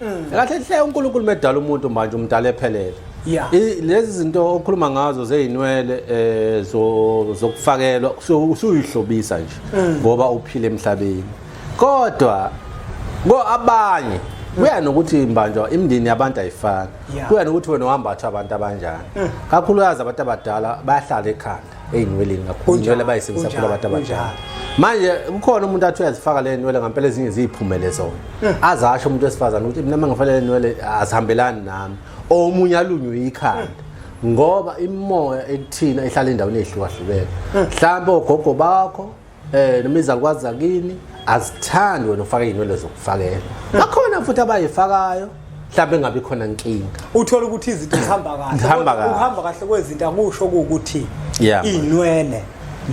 Mm. kahle hle uNkulunkulu medala umuntu manje umdala ephelele Yeah. I- lezi zinto okhuluma ngazo zezinwele eh zo- zokufakelwa so usuyihlobisa nje Mm. ngoba uphile emhlabeni kodwa ko abanye kuya nokuthi mbanjwa imndeni yabantu ayifani Mm. Yeah. Mm. kuya nokuthi wena uhamba athu abantu abanjani kakhulukazi abantu abadala bayahlala ekhanda ey'nweleni kakhulu inwele bayisebenzisa kakhulu abantu abadala manje kukhona umuntu athi uyazifaka le nwele ngampela ezinye ziyiphumele zona eh. azasho umuntu wesifazane ukuthi mina mangifanele nwele azihambelani nami omunye alunywe yikhanda eh. ngoba imimoya ekuthina ihlala endaweni ey'hlukahlukene eh. mhlawumbe ogogo bakho eh noma izakwazi zakini azithandi wena ufake inwele zokufakela bakhona futhi abayifakayo mhlawumbe engabi khona nkinga uthola ukuthi izinto zihamba kahle Zihamba kahle. uhamba kahle kwezinto akusho ukuthi Yeah. inwele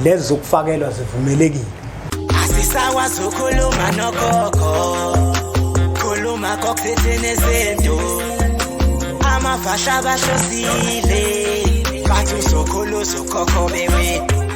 lezi zokufakelwa zivumelekile asisakwazi ukhuluma nogogo khuluma kokuthethini ezinto amavasha abahlosile bathi uzokhuluza ukhokho bewethu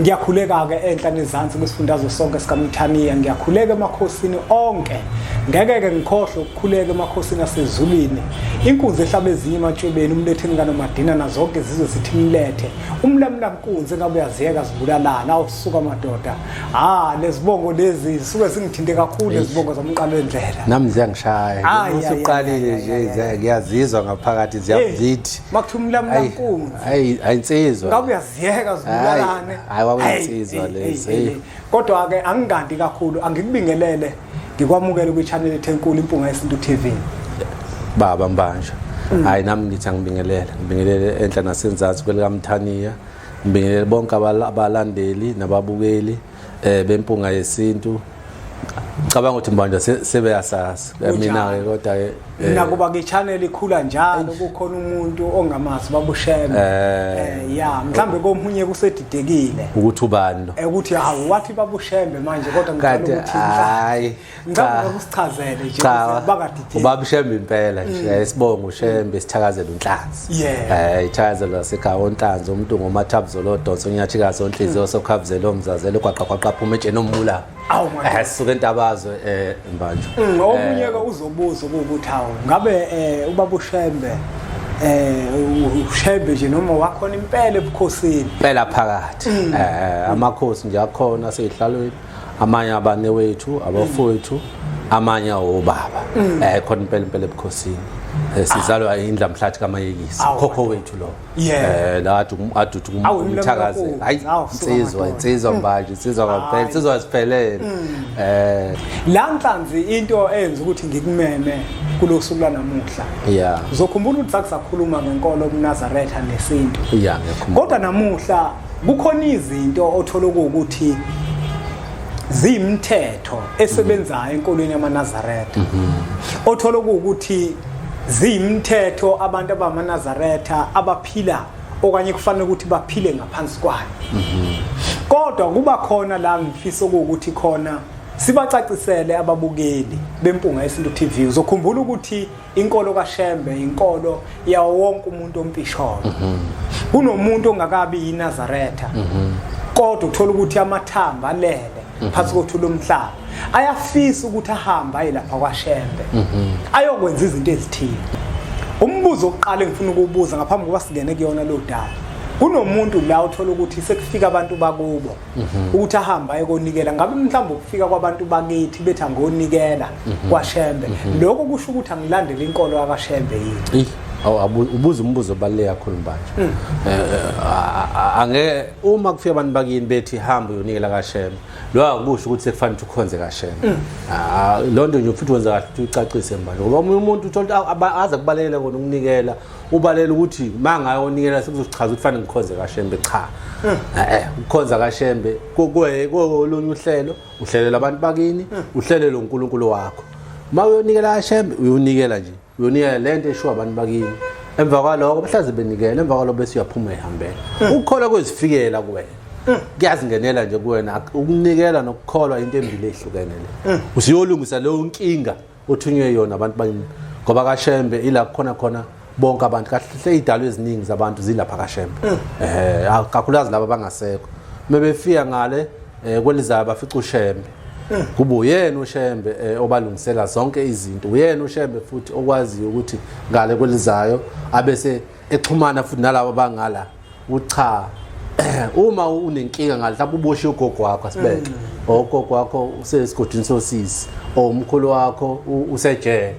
ngiyakhuleka-ke enhla nezansi kwisifundazo sonke sikamithaniya ngiyakhuleka emakhosini onke ngeke-ke ngikhohlwe ukukhuleka emakhosini asezulwini inkunzi ehlaba ezinye ematshwebeni umletheni kanomadina nazonke izizwe sithi mlethe umlamula nkunzi engabe uyaziyeka zibulalana awusuka madoda ha lezibongo lezi zisuke zingithinte kakhulu lezibongo zomqalo endlela nami ziyangishaya usuqalile nje ngiyazizwa ngaphakathi ziyamzithi makuthiwa umlamula nkunzi ayi insizwa ziyeka zibulalane hayi wakunsizwa lezi hey kodwa ke angingandi kakhulu angikubingelele ngikwamukele kwi channel ethe enkulu impunga yesintu TV baba mbanja mm. hayi nami ngithi angibingelele ngibingelele enhla nasenzansi kwelikamthaniya ngibingelele bonke abalandeli nababukeli eh bempunga yesintu cabanga ukuthi manje sebeyasazi mina ke kodwa ke eh, nakuba ke channel ikhula njalo kukhona umuntu ongamazi babusheme eh. eh ya mhlambe komunye kusedidekile ukuthi ubani lo eh, ukuthi hawu wathi babushembe manje kodwa ngicela ukuthi hayi Ngicabanga ukusichazele nje bakadidini. Ubaba Shembe impela nje mm. eh, sibonga uShembe sithakazela unhlanzi. Eh ithakazela sekhaya onhlanzi umuntu ngomathabuzolo donsa unyathi kaso onhliziyo mm. sokhafuzela omzazela kwaqa kwaqa phuma etsheni omula. Awu manje. Eh suke intabazwe eh mbanjwa. Mm, omunye eh. ke uzobuza ukuthi hawu ngabe eh ubaba uShembe eh ushebe nje noma wakhona impela ebukhosini impela phakathi eh amakhosi nje akhona seyihlalweni amanye abanewethu abafowethu amanye awobaba mm. eh khona impela impela ebukhosini eh, sizalwa ah. indla mhlathi kamayekisi khokho wethu lo eh la athi aduthi umthakaze hayi insizwa insizwa mm. manje insizwa kwaphela insizwa siphelele mm. eh la nhlanzi into eyenza ukuthi ngikumeme kulosuku lanamuhla yeah uzokhumbula ukuthi sakusakhuluma ngenkolo kuNazaretha nesintu yeah kodwa namuhla kukhona izinto othola ukuthi ziyimthetho esebenzayo enkolweni yamanazaretha mhm. othola ukuthi ziyimthetho abantu abamanazaretha abaphila okanye kufanele ukuthi baphile ngaphansi kwayo mhm. kodwa kuba khona la ngifisa ukuthi khona sibacacisele ababukeli bempunga yesintu TV uzokhumbula ukuthi inkolo kaShembe inkolo yawo wonke umuntu ompisholo mhm. kunomuntu ongakabi yiNazaretha mhm. kodwa uthola ukuthi amathamba alele mhm. phansi kothu lomhlaba ayafisa ukuthi ahambe aye lapha kwaShembe ayokwenza izinto ezithile umbuzo oqala engifuna ukubuza ngaphambi kokuba singene kuyona lo daba kunomuntu la uthola ukuthi sekufika abantu bakubo mhm. ukuthi ahambe ayekonikela ngabe mhlawumbe ukufika kwabantu bakithi bethi angonikela mhm. kwashembe mhm. lokho kusho ukuthi angilandele inkolo yakashembe yini ubuza umbuzo obaluleke kakhulu manje mm. eh, eh, angeke uma kufika abantu bakini bethi hamba uyonikela kashembe lo akusho ukuthi sekufanele ukhonze kashembe mm. ah, loo nto nje futhi wenza kahle ukuthi ucacise manje ngoba omunye umuntu uthola aza kubalekela kona ukunikela ubalela ukuthi uma ngayonikela sekuzochaza ukuthi fanele ngikhonze kashembe cha eh. Eh, eh ukukhonza kashembe kolunye uhlelo uhlelela abantu bakini eh. uhlelele uNkulunkulu wakho uma uyonikela kashembe uyonikela nje uyonikela lento eshiwa abantu bakini emva kwaloko mhlaze benikela emva kwaloko bese uyaphuma ehambela ukukhola kwezifikela kuwena kuyazingenela nje kuwena ukunikela nokukholwa into embili ehlukene le usiyolungisa leyo nkinga uthunywe yona abantu bakini ngoba kashembe ila kukhona khona bonke abantu kahle idalo eziningi zabantu zilapha kashembe mm. eh kakhulukazi laba bangasekho mebefika ngale eh, kwelizayo bafica ushembe mm. kuba uyena ushembe eh, obalungisela zonke izinto uyena ushembe futhi okwaziyo ukuthi ngale kwelizayo abese exhumana futhi nalabo bangala ucha uma unenkinga ngalapha uboshe ugogo wakho asibeke mm. ogogo wakho usesigodini sosisi or umkhulu wakho usejele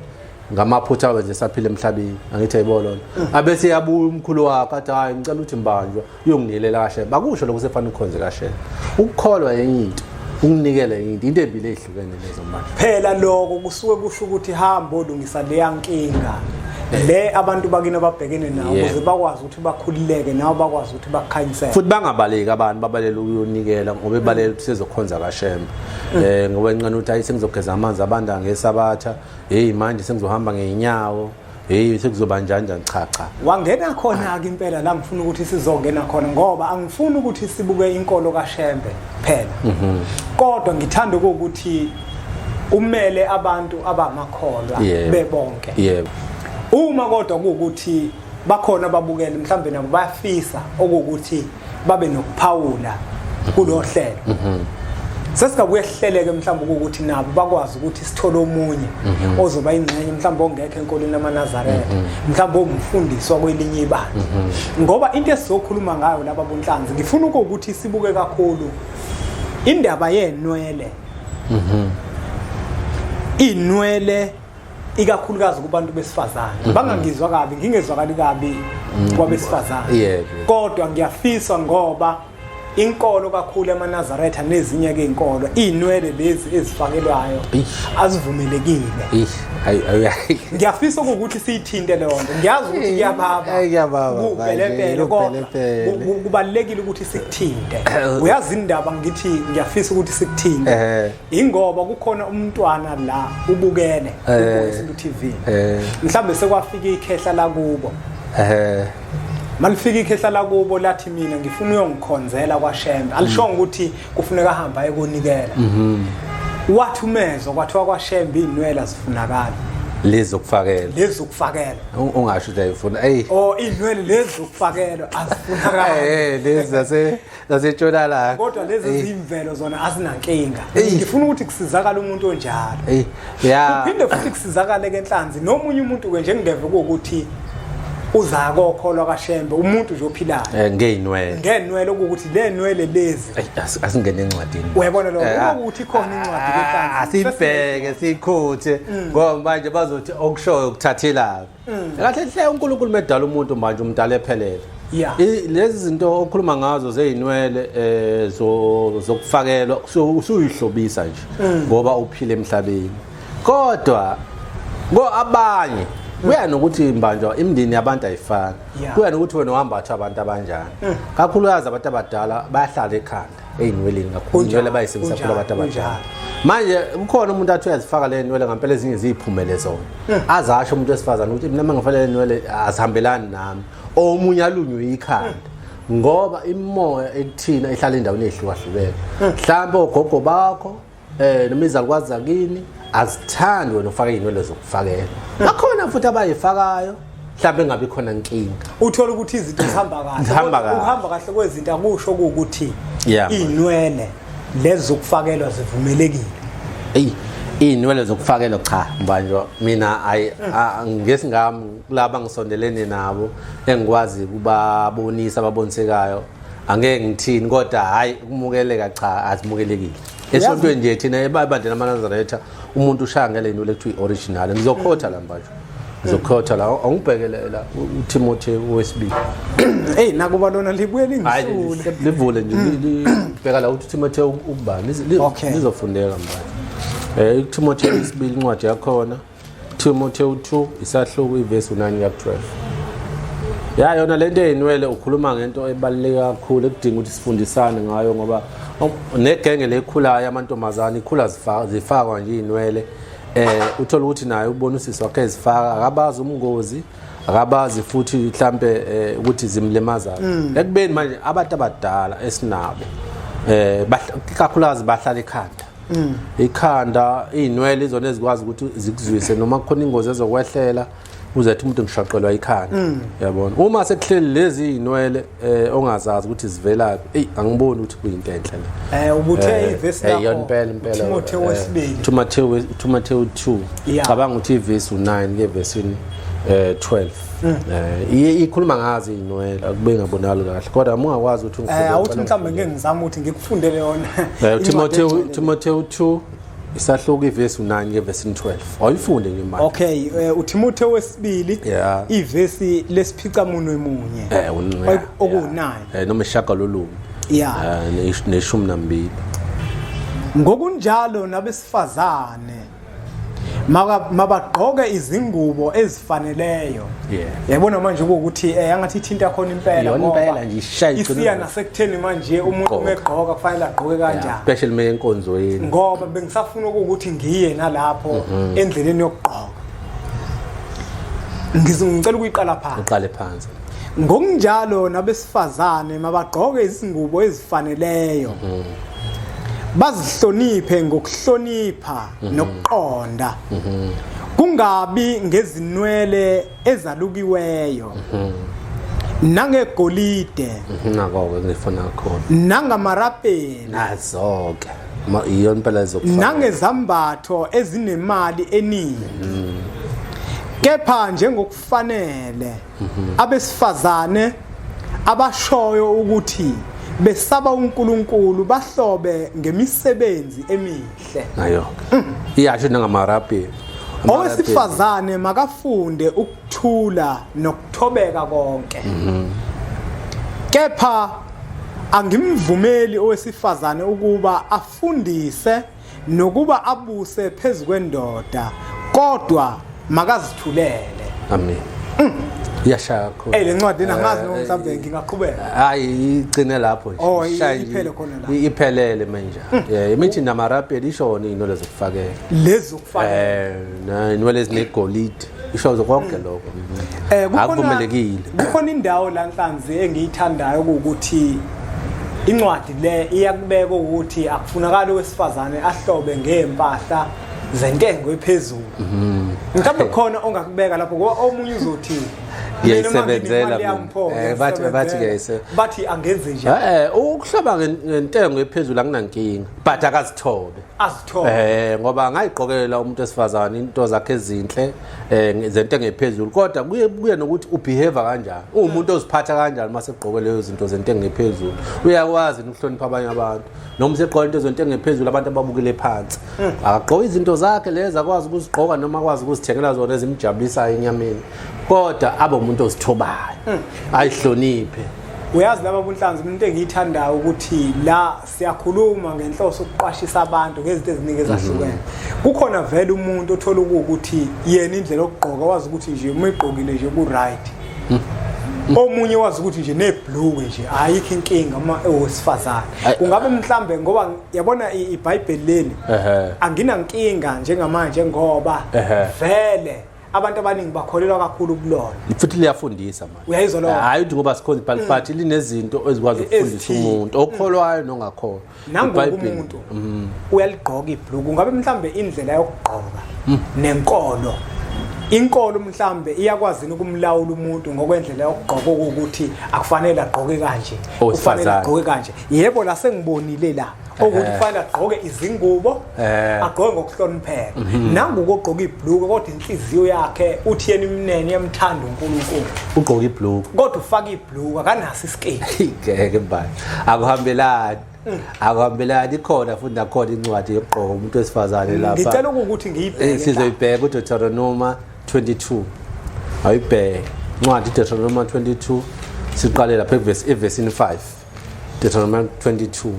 ngamaphutha wenze saphila emhlabeni angithi ayibolo mm. abese yabuya umkhulu wakho athi hayi ngicela ukuthi mbanjwa uyonginilela kahle bakusho lokho sefana ukhonze kahle ukukholwa yenye into ukunikela yenye into into embi phela lokho kusuke kusho ukuthi hamba olungisa leya nkinga le abantu bakini ababhekene nawo ukuze bakwazi ukuthi bakhululeke nawo bakwazi ukuthi bakhanyisele futhi bangabaleki abantu babalele ukuyonikela ngoba ebalele sizokhonza kashembe mm. eh ngoba inqana ukuthi ayi sengizogeza amanzi abanda ngesabatha hey manje sengizohamba ngeenyawo heyi sekuzoba njani njani cha cha wangena khona-ke impela la ngifuna ukuthi sizongena khona ngoba angifuni ukuthi sibuke inkolo kashembe phela mhm. kodwa ngithanda ukuthi umele abantu abamakholwa bebonke yebo uma kodwa kuwukuthi bakhona ababukeli mhlawumbe nabo bayafisa okuwukuthi babe nokuphawula kulo hlelo mhm. sesingabuye sihleleke mhlawumbe ukuthi nabo bakwazi ukuthi sithole omunye mhm. ozoba ingxenye mhlawumbe ongekho enkolweni lamaNazaretha mhm. mhlawumbe omfundisi wakwelinye ibandla mhm. ngoba into esizokhuluma ngayo laba bonhlanzi ngifuna ukuthi sibuke kakhulu indaba yenwele inwele ikakhulukazi kubantu besifazane mm-hmm. bangangizwa kabi ngingezwakali kabi mm-hmm. kwabesifazane kodwa ngiyafisa ngoba inkolo kakhulu emanazaretha nezinye ke inkolo izinwele lezi ezifakelwayo azivumelekile ngiyafisa ukuthi siyithinte leyo nto ngiyazi ukuthi kuyababa kubelepele kodwa kubalulekile ukuthi sikuthinte uyazi indaba ngithi ngiyafisa ukuthi sikuthinte ingoba kukhona umntwana la ubukele eh. isintu TV eh. mhlambe sekwafika ikhehla lakubo eh malifika ikhehla lakubo lathi mina ngifuna uyongikhonzela kwaShembe alishonga mm. ukuthi kufuneka ahambe ayekonikela mhm. wathi umezwa kwathiwa kwaShembe inwele azifunakala lezi ukufakela lezi ukufakela ungasho ukuthi ayifuna ey oh inwele lezi ukufakela azifunakala eh lezi zase zasetshonalanga kodwa lezi zimvelo zona azinankinga ngifuna ukuthi kusizakala umuntu onjalo ya uphinde futhi kusizakale ke nhlanzi nomunye umuntu ke njengingeve ukuthi uza kokholwa kaShembe umuntu nje ophilayo eh ngeenwele ngeenwele ukuthi le nwele lezi asingene encwadini uyabona lo eh, ah, ukuthi khona incwadi ah, ke asibheke sikhuthe mm. ngoba manje bazothi okushoyo ukuthathela Mm. kahle hle uNkulunkulu medala umuntu manje umdala ephelele Yeah. I- lezi zinto okhuluma ngazo zezinwele eh zo- zokufakelwa so- usuyihlobisa nje Mm. ngoba uphile emhlabeni kodwa ko abanye kuya nokuthi mbanjwa imndeni yabantu ayifani Mm. Yeah. Mm. kuya nokuthi wena uhamba athu abantu abanjani kakhulukazi abantu abadala bayahlala ekhanda ey'nweleni kakhulu inwele bayisebenzisa kakhulu abantu abadala manje kukhona umuntu athi uyazifaka le nwele ngampela ezinye ziyiphumele zona hmm. azasho umuntu wesifazane ukuthi mina mangifale le nwele azihambelani nami omunye alunywe ikhanda ngoba imimoya ekuthina ihlala endaweni ey'hlukahlukene hmm. mhlawumbe ogogo bakho eh noma izakwazi zakini azithandi wena ufake inwele zokufakela bakhona futhi abayifakayo mhlawumbe engabi khona nkinga uthola ukuthi izinto zihamba kahle Zihamba kahle. uhamba kahle kwezinto akusho ukuthi Yeah, man. inwele lezi zokufakelwa zivumelekile eyi iy'nwele zokufakela cha mbanjwa mina ayi a- ngesi ngami kulaba ngisondelene nabo engikwazi kubabonisa ababonsekayo angeke ngithini kodwa hhayi ukumukeleka cha azimukelekile esontweni nje thina ebandleni amanazaretha umuntu ushaya ngele into lekuthiwa i-original ngizokhotha la mbajo ngizokhotha la awungibhekele la utimothy wesibili eyi nakuba lona libuye lingisule livule nje libheka la ukuthi utimothy ukubani lizofundeka mbajo um eh, utimothy wesibili incwadi yakhona Timotheo 2 isahluko ivesi 9 ya 12 ya yona lento eyinwele ukhuluma ngento ebaluleke kakhulu ekudinga ukuthi sifundisane ngayo ngoba negenge lekhulayo amantombazane ikhula zifakwa nje inwele eh uthola ukuthi naye ubona usisi wakhe ezifaka akabazi umngozi akabazi futhi mhlambe eh, ukuthi zimlimaza mm. ekubeni manje abantu abadala esinabo eh kakhulukazi bahlala ekhanda Mm. ikhanda izinwele izona ezikwazi ukuthi zikuzwise noma kukhona ingozi ezokwehlela uze athi umuntu ngishaqelwa ikhanda mm. yabona uma sekuhleli lezi zinwele eh ongazazi ukuthi zivelaphi ey angiboni ukuthi kuyinto enhle le eh ubuthe eh, ivesi eh, lakho eyona impela impela Timothy eh, wesibili Timothy Timothy 2 cabanga ukuthi ivesi u9 ke vesini eh 12 Mm. Eh ikhuluma ngazi inwele akube ngabonakali kahle kodwa mungakwazi ukuthi ngifike. Eh awuthi mhlawumbe ngeke ngizama ukuthi ngikufundele yona. Eh Timotheo Timotheo 2 isahluko ivesi 9 ngevesi 12 awuyifunde nje manje okay eh, uThimothe wesibili ivesi lesiphica munwe munye eh unqwe okunani eh noma ishaka lolunye yeah eh, neshumi nambili ngokunjalo nabesifazane mabagqoke izingubo ezifaneleyo yabona manje ukuthi eh angathi ithinta khona impela ngoba isiya nasekutheni manje umuntu umegqoka kufanele agqoke kanjani especially mina enkonzweni ngoba bengisafuna ukuthi ngiye nalapho mhm. endleleni yokugqoka ngizongicela ukuyiqala phansi uqale phansi ngokunjalo nabesifazane mabagqoke izingubo ezifaneleyo bazihloniphe ngokuhlonipha mhm. nokuqonda mhm. kungabi ngezinwele ezalukiweyo mhm. nangegolide nako-ke ngifuna khona nangamarapeli nazo-ke iyona impela ezokufana nangezambatho ezinemali eningi kepha njengokufanele kufanele abesifazane abashoyo ukuthi besaba uNkulunkulu bahlobe ngemisebenzi emihle nayo iyasho nangamarabi owesifazane makafunde ukuthula nokuthobeka konke kepha angimvumeli owesifazane ukuba afundise nokuba abuse phezu kwendoda kodwa makazithulele amen mm. yashaya kakhulu eh lencwadi nangazi noma eh, mhlawumbe eh, ngingaqhubeka hayi igcine lapho nje oh, iphele khona la iphelele manje mm. yeah imithi namarapeli ishona inwele zokufakela lezi zokufakela eh inwele ezinegolide ishoze konke lokho eh kukhona akuvumelekile kukhona indawo la nhlanzi engiyithandayo ukuthi incwadi le iyakubeka ukuthi akufunakala owesifazane ahlobe ngempahla zentengo ephezulu mhm. mhlawumbe khona ongakubeka lapho ngoba omunye uzothi ngiyayisebenzela eh, bathi bathi ngiyayise bathi angenze njani eh, eh ukuhlaba ngentengo ephezulu anginankinga but akazithobe azithole eh ngoba ngayiqokelela umuntu esifazana into zakhe ezinhle eh zento engephezulu kodwa kuye kuye nokuthi ubehave kanjani umuntu oziphatha kanjani mase egqoke leyo zinto zento engephezulu uyakwazi ukuhlonipha abanye abantu noma segqoka into zento engephezulu abantu ababukile phansi hmm. akagqoka izinto zakhe lezi akwazi ukuzigqoka noma akwazi ukuzithengela zona ezimjabulisayo enyameni kodwa abe umuntu ozithobayo hmm. ayihloniphe uyazi laba bunhlanzi into engiyithandayo ukuthi la siyakhuluma ngenhloso ukuqwashisa abantu ngezinto eziningi ezahlukene mhm. kukhona vele umuntu othola ukuthi yena indlela okugqoka wazi ukuthi nje uma igqokile nje ku-right mhm. omunye wazi ukuthi nje nebhluke nje ayikho inkinga uma ewesifazane kungabe mhlambe ngoba yabona ibhayibheli leli anginankinga njengamanje ngoba vele abantu abaningi bakholelwa kakhulu kulona futhi liyafundisa manje uyayizwa lona hayi uthi ngoba sikhona ibhayibheli mm. but linezinto ezikwazi ukufundisa umuntu mm. okholwayo nongakholwa nangokumuntu mm. uyaligqoka ibhluku ngabe mhlambe indlela yokugqoka nenkolo inkolo mhlambe iyakwazi ukumlawula umuntu ngokwendlela yokugqoka ukuthi akufanele agqoke kanje ufanele agqoke kanje yebo la sengibonile la ukuthi kufanele agqoke izingubo eh agqoke ngokuhlonipheka mhm. nangu ukugqoka ibluku kodwa inhliziyo yakhe uthi yena imnene yamthanda uNkulunkulu ugqoka ibluku kodwa ufaka ibluku akanaso isiketi ngeke mbali akuhambelani mm. akuhambelani ikhona futhi nakhona incwadi yokugqoka umuntu wesifazane mm, lapha ngicela ukuthi ngiyibheke eh, sizoyibheka uDeuteronomy 22 ayibheke incwadi uDeuteronomy 22 siqale lapha evesi evesini 5 Deuteronomy 22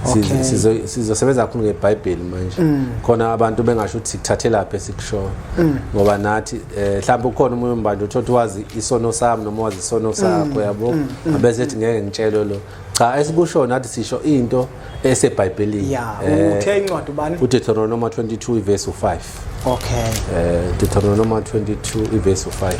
Okay. sizosebenza kakhulu ngebhayibheli manje mm. khona abantu bengasho ukuthi sikuthathelaphi esikushoyo mm. ngoba nathi um eh, mhlawumbe ukhona umunye umbandla uthi othi wazi isono sami noma wazi isono mm. sakho yabo abese ethi ngeke ngitshelwe lo cha esikushoyo nathi sisho into esebhayibhelini ya eh, uthe incwadi ubani udeuteronomy 22 ivesi 5 okay eh, um deuteronomy 22 ivesi 5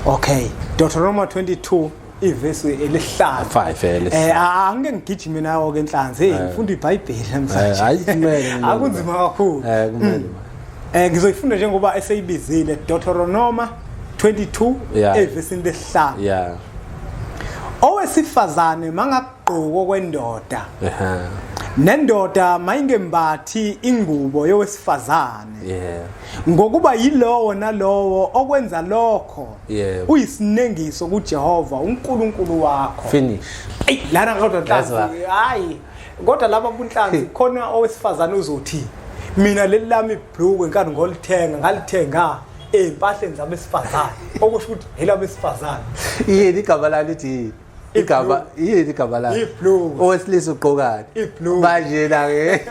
okay deuteronomy 22 ivesi elihlaza 5 eh, elisa eh angike ngigijime nawo ke enhlanzi hey ngifunda iBhayibheli Eh, namhlanje hayi kumele kumele. akunzima kakhulu eh kumele eh ngizoyifunda njengoba eseyibizile Deuteronomy 22 Yeah. evesini lesihlanu yeah owesifazane manga gqoko kwendoda nendoda mayingembathi ingubo yowesifazane yeah ngokuba yilowo nalowo okwenza lokho yeah uyisinengiso kuJehova uNkulunkulu wakho finish ey lana kodwa ntanzi hayi kodwa laba kunhlanzi khona owesifazane uzothi mina leli lami ibhlukwe nkathi ngolithenga ngalithenga ezimpahleni zabesifazane okusho ukuthi yelabesifazane yini igama lalo lithi igama yini igama lakhe owesilisa ugqokani manje la ke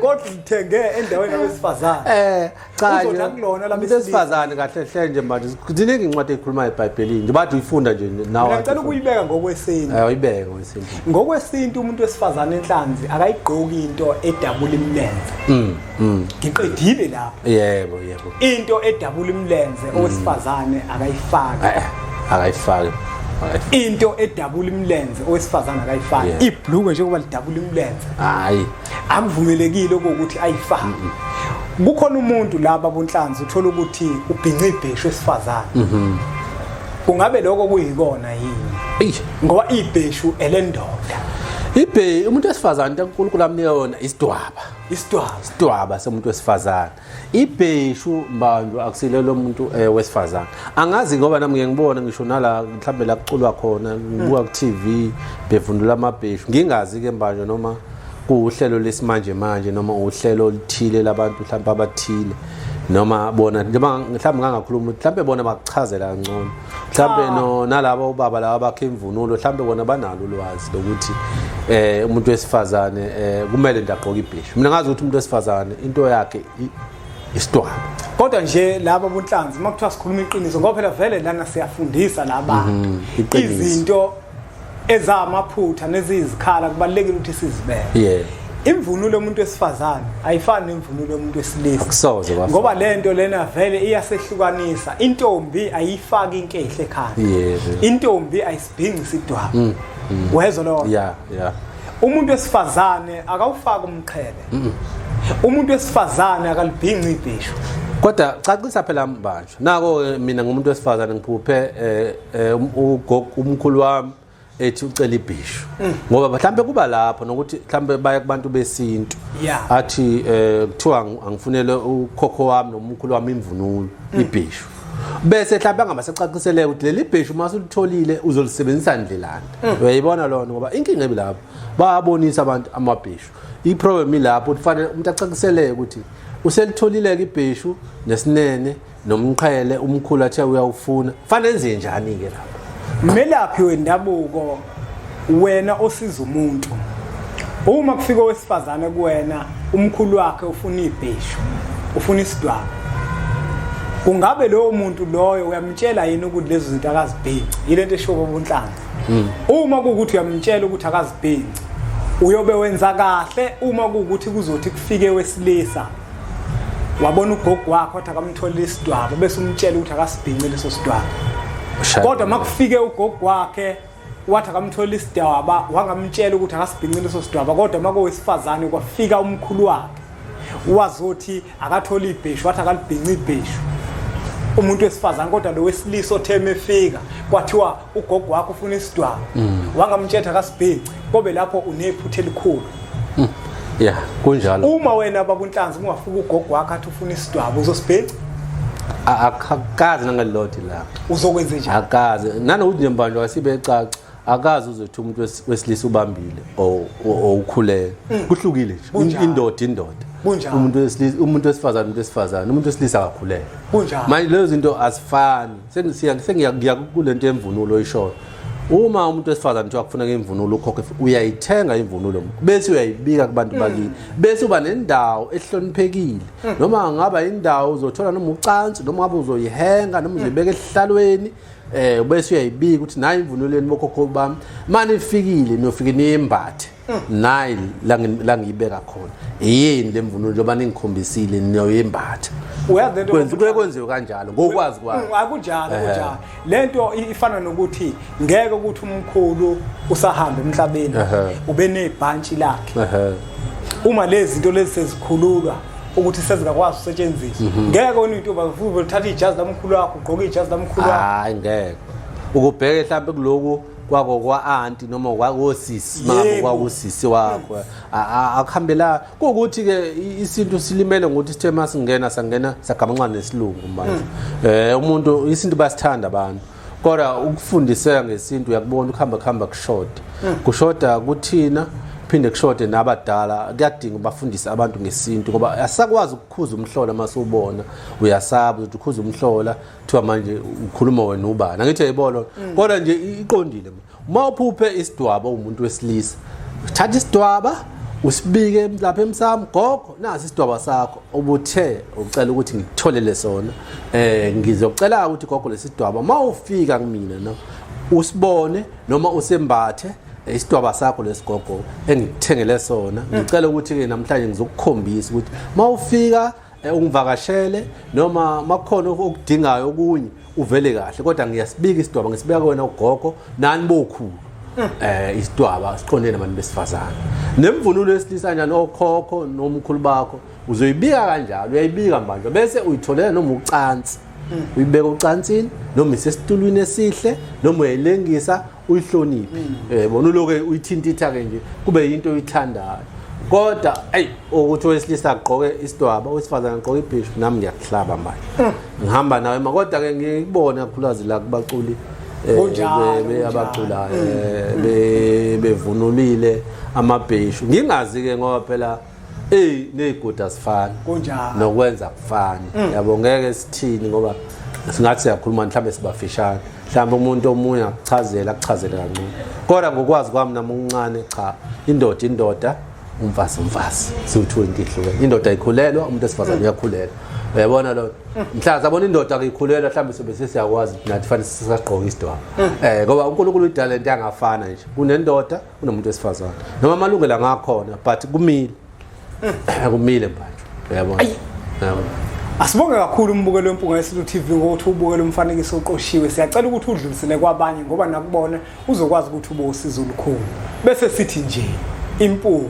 kodwa ngithenge endaweni yabesifazane eh cha uzonakulona la besifazane kahle hle nje manje ziningi incwadi ekhuluma eBhayibhelini nje bathi uyifunda nje nawe ngicela ukuyibeka ngokwesintu eh uyibeke ngokwesintu ngokwesintu umuntu wesifazane enhlanzi akayigqoki into edabula imilenze mm. Mm. ngiqedile lapho yebo yebo into edabula imlenze mm. owesifazane akayifaki eh, eh, akayifaki into edabula imlenze owesifazane akayifaki ibhluke njengoba lidabula imlenze hayi akuvumelekile ukuthi ayifaki kukhona umuntu laba bonhlanzi uthola ukuthi ubhinca ibheshu esifazane mhm. kungabe lokho kuyikona yini ngoba ibheshu elendoda ibhe umuntu wesifazane uNkulunkulu amnika yona isidwaba isitwaba isitwaba somuntu wesifazane ibheshu mbanjwa akusile lo muntu eh, wesifazane angazi ngoba nami ngeke ngibone ngisho nala mhlawumbe la kuculwa khona ngibuka ku-tv bevundula amabheshu ngingazi-ke mbanjwa noma kuwuhlelo lesimanje manje noma uhlelo oluthile labantu mhlawumbe abathile noma bona njengoba mhlawumbe ngangakhuluma mhlawumbe bona bakuchazela kangcono mhlambe ah. no nalabo ubaba laba bakhe imvunulo mhlambe bona banalo ulwazi lokuthi eh umuntu wesifazane eh kumele ndagqoka ibhishu mina ngazi ukuthi umuntu wesifazane into yakhe isitwana kodwa nje laba bonhlanzi uma kuthiwa sikhuluma iqiniso ngoba phela vele lana siyafundisa laba mhm, izinto ezamaphutha nezizikhala kubalekile ukuthi sizibeke yeah imvunulo yomuntu wesifazane ayifani nemvunulo yomuntu wesilisa kusoze kwafa ngoba lento lena vele iyasehlukanisa intombi ayifaki inkehle ekhanda yes intombi ayisibhingi sidwaba mm, mm. wezwa lo yeah yeah umuntu wesifazane akawufaki umqhele mm. umuntu wesifazane akalibhingi ibhisho kodwa cacisa phela mbandla nako ke mina ngumuntu wesifazane ngiphuphe eh, eh, um, umkhulu wami ethi ucela ibhishu mm. ngoba mhlawumbe kuba lapho nokuthi mhlawumbe baya kubantu besintu athi eh, kuthiwa angifunele ukhokho wami nomkhulu wami imvunulo mm. ibhishu bese mhlawumbe angaba secaciseleka ukuthi leli bheshu uma sulitholile uzolisebenzisa ndlelani mm. uyayibona lona ngoba inkinga ebilapho babonisa abantu amabheshu iproblem ilapho ukuthi fanele umuntu acakiseleke ukuthi uselitholile-ke ibheshu nesinene nomqhele umkhulu athe uyawufuna fanele enze njani-ke lapho mmelaphi wendabuko wena osiza umuntu uma kufika owesifazane kuwena umkhulu wakhe ufuna ibheshu ufuna isidwaba kungabe lowo muntu loyo uyamtshela yini ukuthi lezi zinto akazibhinci yile nto eshoba ubunhlanga Hmm. Uma kuwukuthi uyamtshela ukuthi akazibhinci uyobe wenza kahle uma kuwukuthi kuzothi kufike wesilisa wabona ugogo wakho wathi akamtholile isidwaba bese umtshela ukuthi akasibhinci leso sidwaba kodwa uma kufike ugogo wakhe wathi akamtholile isidwaba wangamtshela ukuthi akasibhinci leso sidwaba kodwa uma kowesifazane kwafika umkhulu wakhe wazothi akathole ibheshu wathi akalibhinci ibheshu umuntu wesifazane kodwa lo wesilisa otheme efika kwathiwa ugogo wakho ufuna isidwaba mm. wangamtshetha kasibhinci kobe lapho unephutha elikhulu mm. ya kunjalo uma wena babunhlanzi ungafuka ugogo wakho athi ufuna isidwaba uzosibhinci akakazi nangalilodi la uzokwenze njani akazi nanokuthi nje mbanjwa sibecaca akazi uzothi umuntu wesilisa ubambile owukhulele mm. kuhlukile nje indoda indoda umuntu wesilisa umuntu wesifazane umuntu wesifazane umuntu wesilisa akakhulele manje lezo zinto azifani sengiya kule nto yemvunulo oyishoyo uma umuntu wesifazane kuthiwa kufuna ngemvunulo ukhokhe uyayithenga imvunulo bese uyayibika kubantu mm. bakini bese uba nendawo ehloniphekile mm. noma ngaba indawo uzothola noma ucansi noma ngabe uzoyihenga noma uzoyibeka esihlalweni eh ubese uyayibika ukuthi nayi imvunulo yenu bokhokho bami manje ifikile niyofike niyembathe nayi la ngiyibeka khona yini le mvunulo njengoba ningikhombisile niyoyembatha kuye kwenziwe kanjalo ngokwazi kwami mm, akunjalo kunjalo le nto ifana nokuthi ngeke ukuthi umkhulu usahambe emhlabeni ube nebhantshi lakhe uma lezi zinto lezi sezikhululwa ukuthi sezingakwazi usetshenziswa mhm. ngeke wena uyintombi akufuthi uthatha ijazi lamkhulu wakho ugqoke ijazi lamkhulu wakho hayi ngeke ukubheke mhlawumbe kuloku kwako kwa-anti noma kwakosisi mabo kwakusisi wakho akuhambela kuwukuthi-ke isintu silimele ngokuthi sithe uma singena sangena sagamanxa nesilungu manje um umuntu isintu basithanda abantu kodwa ukufundiseka ngesintu uyakubona ukuhamba kuhamba kushoda hmm. kushoda kuthina phinde kushode nabadala kuyadinga ubafundise abantu ngesintu ngoba asakwazi ukukhuza umhlola uma siwubona uyasaba ukuthi ukhuza umhlola kuthiwa manje ukhuluma wena ubani angithi yayibolo mm. kodwa nje iqondile uma uphuphe isidwaba umuntu wesilisa thatha isidwaba usibike lapha emsamo gogo nasi isidwaba sakho ubuthe ucela ukuthi ngikutholele sona eh ngizocela ukuthi gogo lesidwaba mawufika kumina no usibone noma usembathe eh, isidwaba sakho lesigogo engikuthengele sona ngicela ukuthi ke namhlanje ngizokukhombisa ukuthi mawufika Eh, ungivakashele noma makukhona okudingayo okunye uvele kahle kodwa ngiyasibika isidwaba ngisibeka kuwena ugogo nani bokhulu hmm. eh isidwaba siqonde nabantu besifazane nemvunulo yesilisa kanjani okhokho nomkhulu bakho uzoyibika kanjalo uyayibika manje bese uyitholela noma ucansi hmm. uyibeka ucansini noma isesitulwini esihle noma uyayilengisa uyihloniphe mm. eh bona uloke uyithintitha ke nje kube yinto oyithandayo kodwa ayi ukuthi owesilisa agqoke isidwaba owesifazane agqoke ibhishu nami ngiyakuhlaba manje mm. ngihamba nawe ma kodwa ke ngikubona khulazi la kubaculi eh, abaculayo mm. eh, bevunulile amabheshu ngingazi ke ngoba phela Ey nezigodi asifani. Kunjalo. Nokwenza kufani. Mm. Yabo ngeke sithini ngoba singathi siyakhuluma mhlawumbe sibafishane. Mhlawumbe umuntu omunye akuchazela akuchazele kancane. Kodwa ngokwazi kwami nami uncane cha indoda indoda umfazi umfazi siwu-two into ihlukene indoda ayikhulelwa umuntu esifazane mm. uyakhulelwa uyabona loo mm. mhlawumbe sabona indoda ayikhulelwa mhlawumbe sobe sesiyakwazi nathi fanele sisagqoka isidwaba um mm. eh, ngoba unkulunkulu idalento yangafana nje kunendoda unomuntu wesifazane noma amalungelo angakhona but kumile kumile manje uyabona uyabona Asibonge kakhulu umbukelo wempunga yeSilo TV ngokuthi ubukele umfanekiso oqoshiwe. Siyacela ukuthi udlulisele kwabanye ngoba nakubona uzokwazi ukuthi ubosizo olukhulu. Bese sithi nje impunga